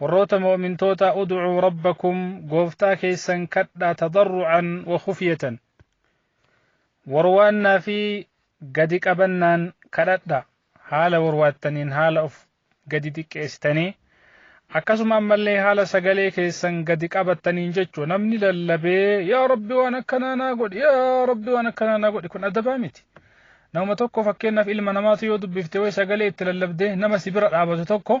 Warroota mu'mintootaa ud'uu rabbakum gooftaa keessan kadhaa tadarru'an wa khufyatan. Warwaannaa fi gadi qabannaan kadhadha. Haala warwaattaniin haala of gadi xiqqeessitanii akkasuma ammallee haala sagalee keessan gadi qabattaniin jechuu namni lallabee yaa rabbi waan akkanaa naa godhi yaa rabbi waan akkanaa naa godhi kun adabaa miti. Nama tokko fakkeenyaaf ilma namaatu yoo dubbifte way sagalee itti lallabdee nama si bira dhaabatu tokko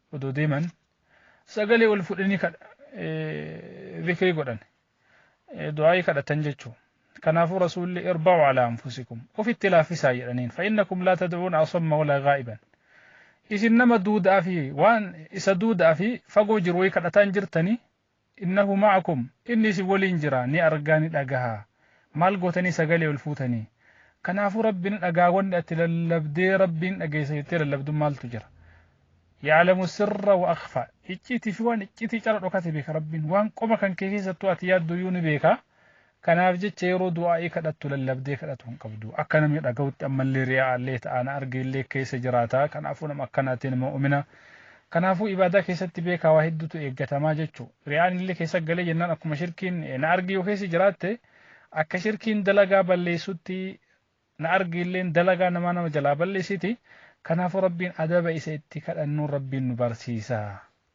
odoo deeman sagalee ol fudhanii zikrii godhan du'aa'ii kadhatan jechuu kanaafuu rasuulli irba'u alaa anfusikum ofitti laaffisaa jedhaniin fa'innakum laa tad'uun asamma walaa gaa'iban isin nama duuda'aa fi waan isa duuda'aa fi fagoo jiru wayii kadhataan jirtanii Innahu ma'akum, Inni isin waliin jira, ni argaa, ni dhagaha. Maal gootanii sagalee ol fuutanii? Kanaafuu Rabbi ni dhagaa wanni ati lallabdee Rabbi ni dhageessa jettee lallabdu maaltu jira? Ya'lamu sirra wa akhfa, Icciitii fi waan icciitii cala dhokate beeka Rabbiin. Waan qoma kan kee keessattuu ati yaadduyyuu ni beeka. Kanaaf jecha yeroo du'aa'ii kadhattu lallabdee kadhatu hin qabdu. Akka namni dhaga'utti ammallee riyaa'aallee ta'a na argeellee keessa jiraata. Kanaafuu nama akkanaatiin mu'umina. Kanaafuu ibaadaa keessatti beekaa waa hedduutu eeggatamaa jechuu. Riyaa'aan illee keessa galee jennaan akkuma shirkiin na argi yoo keessa jiraatte akka shirkiin dalagaa balleessutti na argiilleen dalagaa namaa nama jalaa balleessiti. Kanaafuu Rabbiin adaba isa itti kadhannuun Rabbiin nu barsiisa.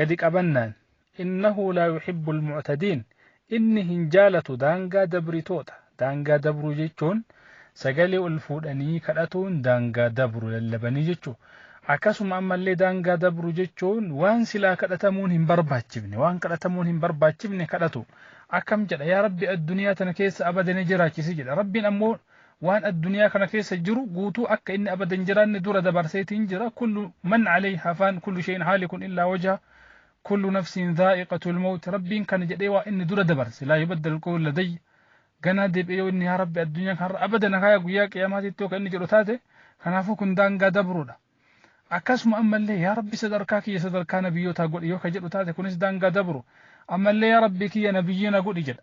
gadi qabannaan innahu laa yuhibbul mu'tadiin inni hin jaalatu daangaa dabritoota daangaa dabruu jechuun sagalee ol fuudhanii kadhatuun daangaa dabru lallabanii jechuu akkasuma ammallee daangaa dabru jechuun waan silaa kadhatamuun hin barbaachifne waan kadhatamuun hin barbaachifne kadhatu akkam jedha yaa rabbi addunyaa tana keessa abada ni jiraachisi jedha rabbiin ammoo waan adduniyaa kana keessa jiru guutuu akka inni abada hin jiraanne dura dabarseetiin jira kullu man alayha faan kullu shay'in haalikun illaa wajha kullu nafsin dhaa'iqatul mawt rabbiin kana jedhee waa inni dura dabarse laa yubaddal qawlu ladayya ganaa deebi'ee yoo inni yaa rabbi addunyaa kanarra abada na kaaya guyyaa qiyaamaatitti yoo kan inni jedhu taate kanaafuu kun daangaa dabruudha akkasuma ammallee yaa rabbi sadarkaa kiyya sadarkaa nabiyyootaa godhi yoo ka jedhu taate kunis daangaa dabru ammallee yaa rabbi kiyya nabiyyiina godhi jedha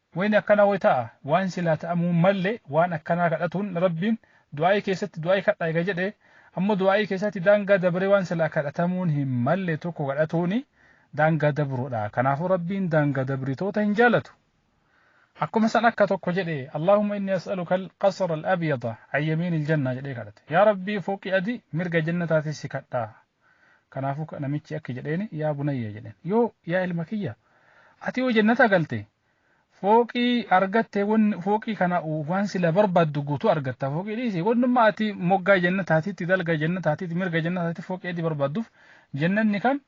Wayni akkanaa way ta'a, waan silaa ta'amuu hin malle waan akkanaa kadhatuun Rabbiin du'aa'ii keessatti du'aa'ii kadhaa eega jedhee ammoo du'aa'ii keessaatti daangaa dabree waan silaa kadhatamuun hin malle tokko kadhatuuni daangaa dabruudha. Kanaafuu Rabbiin daangaa dabritoota hin jaalatu. Akkuma san akka tokko jedhe Allaahumma inni as'aluka al-qasra al-abyada an yamiini al-jannah jedhee kadhate. Yaa Rabbii fooqii adii mirga jannataatii si kadhaa. Kanaafu namichi akki jedheeni yaa bunayya jedheen yoo yaa ilma kiyya ati yoo jannata galte fooqii argatte wanni fooqii kana waan sila barbaaddu guutuu argatta fooqii dhiisi wannumma ati moggaa jannataatitti dalga jannataatitti mirga jannataatitti fooqii adi barbaadduuf jannanni kan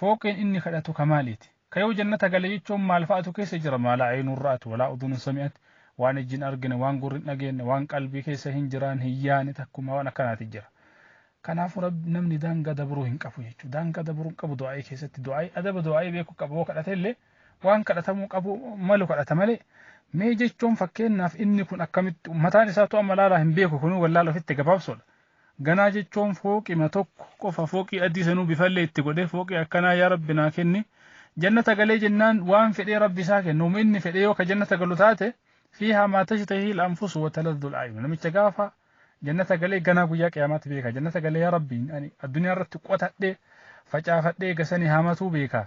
fooqiin inni kadhatu kamaaliiti. Ka yoo jannata gale jechuun maal fa'atu keessa jira? Maa laa aynun ra'at wa laa udhunun sami'at, waan ijji hin argine, waan gurri hin dhageenne, waan qalbii keessa hin jiraanne, hin yaane takkumaa waan akkanaati jira. Kanaafu Rabbi namni daangaa dabruu hin qabu jechu. Daangaa dabruu hin qabu du'aa'ii keessatti. Du'aa'ii adaba du'aa'ii beeku qaba. Yoo kadhate illee waan kadhatamuu qabu malu kadhata malee mee jechuun fakkeenyaaf inni kun akkamitti mataan isaatu amma laalaa hin beeku kunuu wallaala ofitti gabaabsuudha. Ganaa jechoon fooqima tokko qofa fooqii adii sanuu bifallee itti godhee fooqii akkanaa yaa rabbi naa kenni jannata galee jennaan waan fedhee rabbi isaa kenna uma inni fedhee yoo ka jannata galu taate fiihaa maa tashtahihi al-anfusu wa taladdu al-a'yun namicha gaafa jannata galee ganaa guyyaa qiyaamaatti beeka jannata galee yaa rabbi ani addunyaa irratti qotadhee facaafadhee gasanii haamatuu beeka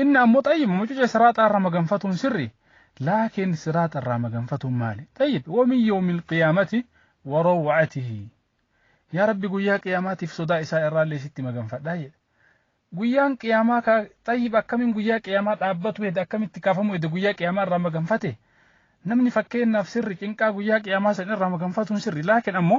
Inni ammo xayyib mucuce siraaxaa irra maganfatuun sirri laakiin siraaxa irraa maganfatuun maali xayyib wamin yawmil qiyaamati warawwacatihi yaa rabbi guyyaa qiyaamaatiif sodaa isaa irraallee sitti maganfadhaa jedhe guyyaan qiyaamaa kaa xayyib akkamiin guyyaa qiyaamaa dhaabbatu hede akkamitti kaafamu hede guyyaa qiyaamaa irraa maganfate namni fakkeenyaaf sirri cinqaa guyyaa qiyaamaa san irraa maganfatuun sirri laakiin ammo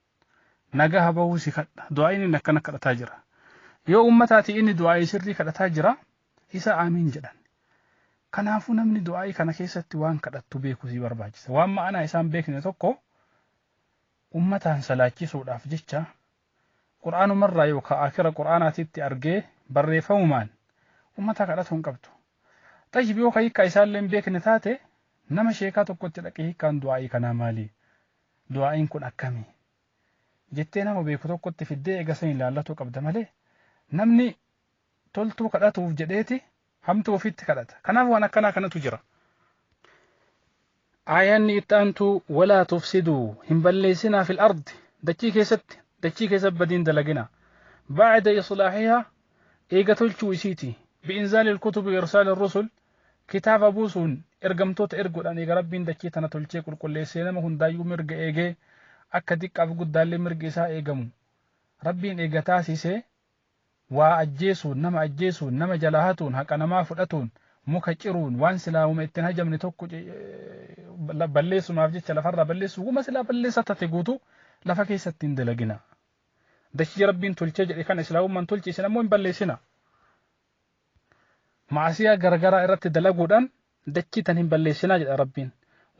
nagaha bahuu si kadha du'aa'iin inni akkana kadhataa jira yoo ummataati inni du'aa'ii sirrii kadhataa jira isa aamiin jedhan kanaafuu namni du'aa'ii kana keessatti waan kadhattu beekuu si barbaachisa waan ma'anaa isaan beekne tokko ummataan salaachisuudhaaf jecha qur'aanumarraa yookaan akira qur'aanaatitti argee barreeffamumaan ummataa kadhatuu hin qabdu xayyib yoo ka hiikkaa isaallee hin beekne taate nama sheekaa tokkotti dhaqee hiikkaan du'aa'ii kanaa maalii du'aa'iin kun akkami? jettee nama beeku tokkotti fiddee eega saniin laallatuu qabda malee namni toltuu kadhatuuf jedheeti hamtuu ofitti kadhata. Kanaaf waan akkanaa kanatu jira. Aayaanni itti aantu walaa tufsiduu hin balleessinaa fil ardi dachii keessatti dachii keessa badiin dalagina. Ba'da islaahihaa eega tolchuu isiiti. Bi'inzaalil kutubi irsaal rusul Kitaaba buusuun, ergamtoota erguudhaan eega Rabbiin dachii tana tolchee qulqulleessee nama hundaayyuu mirga eegee, akka diqqaaf guddaallee mirgi isaa eegamu Rabbiin eega taasisee, waa ajjeesuun, nama ajjeesuun, nama jalaa hatuun, haqa namaa fudhatuun, muka ciruun, waan silaa woma itti hin hajamne tokko balleessumaaf jecha lafarraa balleessuun, woma silaa balleessaa tate guutuu lafa keessatti hin dalaginaa. Dachii Rabbiin tolchee jedhe kana Islaamummaan tolche isin ammoo hin balleessinaa. Ma'asiyaa garagaraa irratti dalaguudhaan dachii tan hin balleessinaa jedha Rabbiin.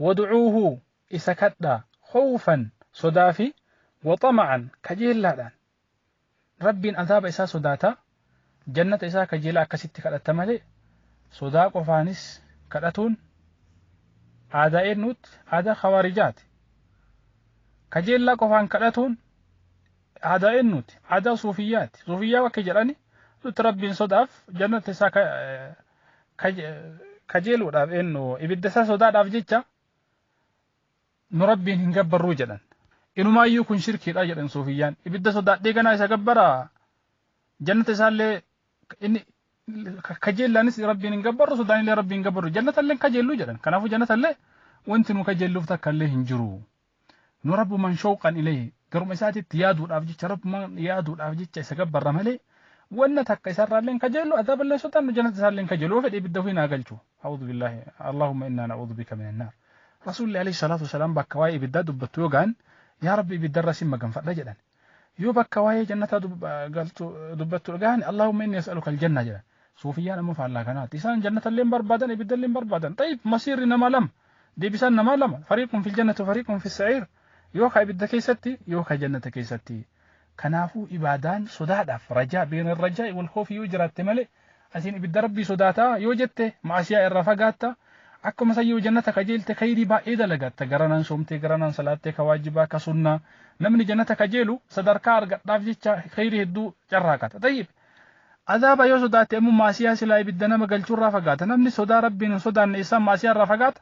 Wad'uuhu isa kadhaa khawfan sodaa fi wa xama'an kajeellaadhaan. Rabbiin azaaba isaa sodaataa jannata isaa kajeelaa akkasitti kadhatta malee sodaa qofaanis kadhatuun aadaa eennuutti aadaa khawaarijaati. Kajeellaa qofaan kadhatuun Aadaa eennuuti? Aadaa suufiyyaati. Suufiyyaa bakka jedhani nuti rabbiin sodaaf jannata isaa kajeeluudhaaf eennu ibidda isaa sodaadhaaf jecha nu rabbiin hin gabbarruu jedhan. Inumaayyuu kun shirkiidha jedhan suufiyyaan. Ibidda sodaadhee ganaa isa gabbaraa jannata isaallee inni kajeellaanis rabbiin hin gabbarru sodaanillee rabbiin hin gabbarru jannatallee hin kajeellu jedhan. Kanaafuu jannatallee wanti nu kajeelluuf takkallee hin jiru. nu rabbuman shawqan ilayhi garuma isaatitti yaaduudhaaf jecha rabbuman yaaduudhaaf jecha isa gabbarra malee wanna takka isarraallee hin kajeellu azaaballee hin sodaannu jannata isaallee hin kajeellu yoo fedhe ibidda ofii naa galchu a'uudhu billaahi allaahumma innaa na'uudhu bika min annaar rasuulli alayhi salaatu wasalaam bakka waa'ee ibiddaa dubbattu yoo ga'an yaa rabbi ibiddarra sin maganfadha jedhan Yoo bakka waa'ee jannataa galtu dubbattu dhagahan Allaahumma inni as'aluka aljanna jedhan. Suufiyyaan ammoo faallaa kanaatti. Isaan jannatallee hin barbaadan ibiddallee hin barbaadan. Xayyib masiirri namaa lama. Deebisaan namaa lama. Fariiqun fil jannati fariiqun fis sa'iir. Yoo ka ibidda keessatti yoo ka jannata keessatti. Kanaafuu ibaadaan sodaadhaaf rajaa beena rajaa'i wal khoofi yoo jiraatte malee Asin ibidda Rabbii sodaata yoo jette ma'asiyaa irraa fagaatta, akkuma san yoo jannata kajeelte khayrii baay'ee dalagatta, garanaan soomtee, garanaan salaattee ka waajibaa, ka sunnaa, namni jannata kajeelu sadarkaa argadhaaf jecha khayrii hedduu carraaqata. Xayyib! Azaaba yoo sodaatte ammoo ma'asiyaa silaa ibidda nama galchurraa fagaata. Namni sodaa Rabbiin hin sodaanne eessaan ma'asiyaa irraa fagaata?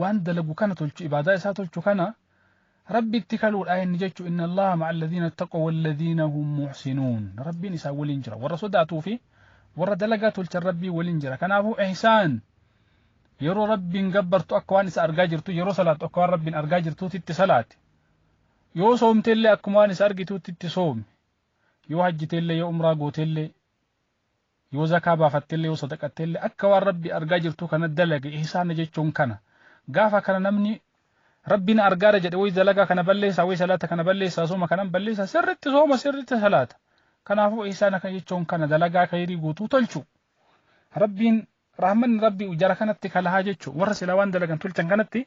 waan dalagu kana tolchu ibaadaa isaa tolchu kana rabbitti kaluudha inni jechu inna allaha ma'a alladhiina ittaqaw walladhiina hum muhsinuun rabbiin isaan waliin jira warra sodaatuu fi warra dalagaa tolchan rabbiin waliin jira kanaafuu ihsaan yeroo rabbiin gabbartu akka waan isa argaa jirtu yeroo salaattu akka waan rabbiin argaa jirtuutti itti salaati yoo soomte illee akkuma waan isa argituutti itti soomi yoo hajjite illee yoo umraa goote illee Yoo zakaa baafattellee yoo sadaqattellee akka waan Rabbi argaa jirtuu kana dalage ihsaana jechuun kana. Gaafa kana namni Rabbi na argaara jedhe wayi dalagaa kana balleessaa wayi salaata kana balleessaa sooma kanan balleessaa sirritti sooma sirritti salaata. Kanaafuu ihsaana kan jechuun kana dalagaa kayrii guutuu tolchu. Rabbiin rahmanni Rabbi jara kanatti kalahaa jechu warra sila waan dalagan tolchan kanatti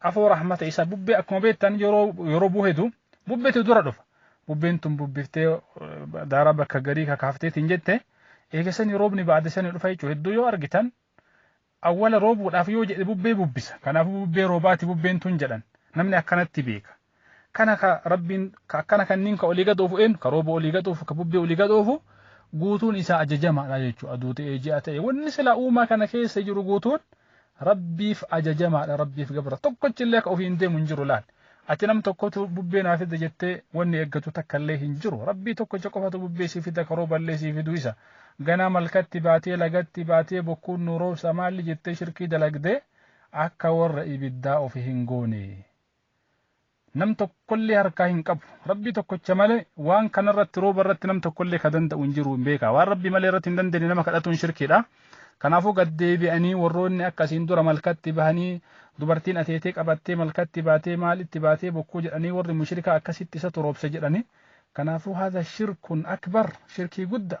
afoo rahmata isa bubbee akkuma beektan yeroo buhetu bubbetu dura dhufa bubbeen tun bubbiftee daara bakka garii kakaafteetiin jette eegasanii roobni baadisanii dhufa jechuudha hedduu yoo argitan awwala roobuudhaaf yoo jedhe bubbee bubbisa kanaafuu bubbee roobaati bubbeen tun jedhan namni akkanatti beeka Kana ka Rabbiin ka akkana kanniin ka olii gad oofu eenyu? Ka rooba olii gad oofu, ka bubbee olii gad oofu guutuun isaa ajajamaadha jechuudha. Aduu ta'ee ji'a ta'ee wanni silaa uumaa kana keessa jiru guutuun Rabbiif ajajamaadha, Rabbiif gabra. Tokkochi illee ka ofiin deemu hin jiru laal. Ati nam tokkotu bubbee naa fida jettee wanni eeggatu takka illee hin jiru. Rabbii tokkocha qofatu bubbee sii fida ka rooba illee sii fidu isa. Ganaa malkatti baatee lagatti baatee bokkuun nu roobsa maalli jettee shirkii dalagdee akka warra ibiddaa ofi hin goone. Nam tokkollee harkaa hin qabu. Rabbii tokkocha malee waan kana irratti rooba irratti nam tokkollee ka danda'u hin jiru hin beekaa. Waan Rabbii malee irratti hin dandeenye nama kadhatuun shirkiidha. Kanaafuu gad deebi'anii warroonni akka asiin dura malkatti bahanii dubartiin ateetee qabattee malkatti baatee maalitti baatee bokkuu jedhanii warri mushrikaa akkasitti isatu roobse jedhanii. Kanaafuu haadha shirkun akbar shirkii guddaa.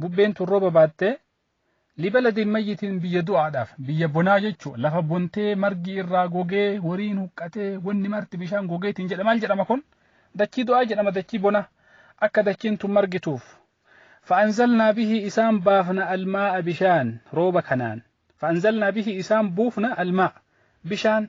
Bubbeen tun rooba baattee libala deemmayyitiin biyya du'aadhaaf biyya bonaa jechuu lafa bontee margi irraa gogee horiin huqqatee wanni marti bishaan gogeetiin jedha maal jedhama kun dachii du'aa jedhama dachii bonaa akka dachiin tun margituuf fa'anzalnaa bihii isaan baafna almaa'a bishaan rooba kanaan fa'anzalnaa bihii isaan buufna almaa'a bishaan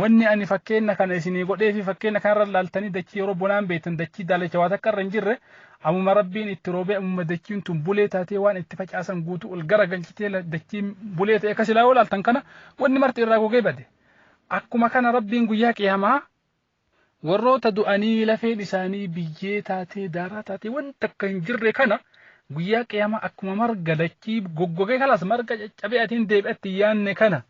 Wanni ani fakkeenna kana isinii godhee fi fakkeenna kanarra ilaaltanii dachii yeroo bonaan beektan dachii daalacha waa takka irra hin jirre ammuma rabbiin itti roobee ammuma dachiin tun bulee taatee waan itti facaasan guutuu ol gara galchitee dachiin bulee ta'e akka silaa yoo ilaaltan kana wanni marti irraa gogee bade. Akkuma kana rabbiin guyyaa qiyamaa Warroota du'anii lafeen isaanii biyyee taatee, daaraa taatee waan takka hin jirre kana guyyaa qiyaamaa akkuma marga dachii goggogee kalas marga caccabee atiin deebi'atti hin yaanne kana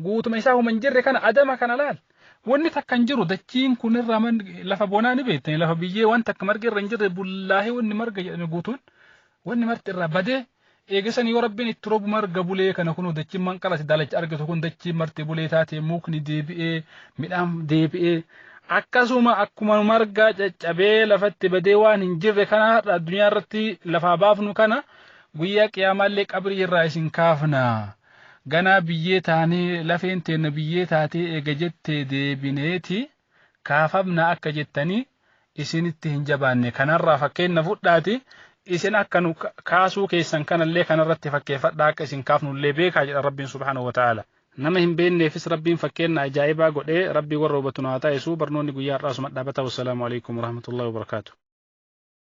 guutuma isaa huma hin jirre kana adama kana laal. Wanni takka hin jiru dachiin kun irraa man lafa bonaa ni beektan lafa biyyee waan takka margi irra hin jirre bullaahee wanni marga jedhame guutuun wanni marti irraa badee Eegasanii yoo Rabbiin itti robu marga bulee kana kunoo dachiin manqalati daalacha argitu kun dachiin marti bulee taatee mukni deebi'ee midhaan deebi'ee akkasuma akkuma margaa caccabee lafatti badee waan hin jirre kana har'a addunyaa irratti lafaa baafnu kana guyyaa qiyaamaallee qabrii irraa isin kaafna ganaa biyyee taanee lafeen teenna biyyee taatee eega jettee deebineeti kaafamna akka jettanii isinitti hin jabaanne kanarraa fakkeenna fudhaati isin akka nu kaasuu keessan kanallee kanarratti fakkeeffadhaa akka isin kaafnullee beekaa jedha rabbiin subhaanahu wa ta'ala nama hin beekneefis rabbiin fakkeenna ajaa'ibaa godhee rabbii warra hubatu nu haa taasisuu barnoonni guyyaa har'aa suma dhaabata wassalaamu alaikum warahmatullahi wabarakaatu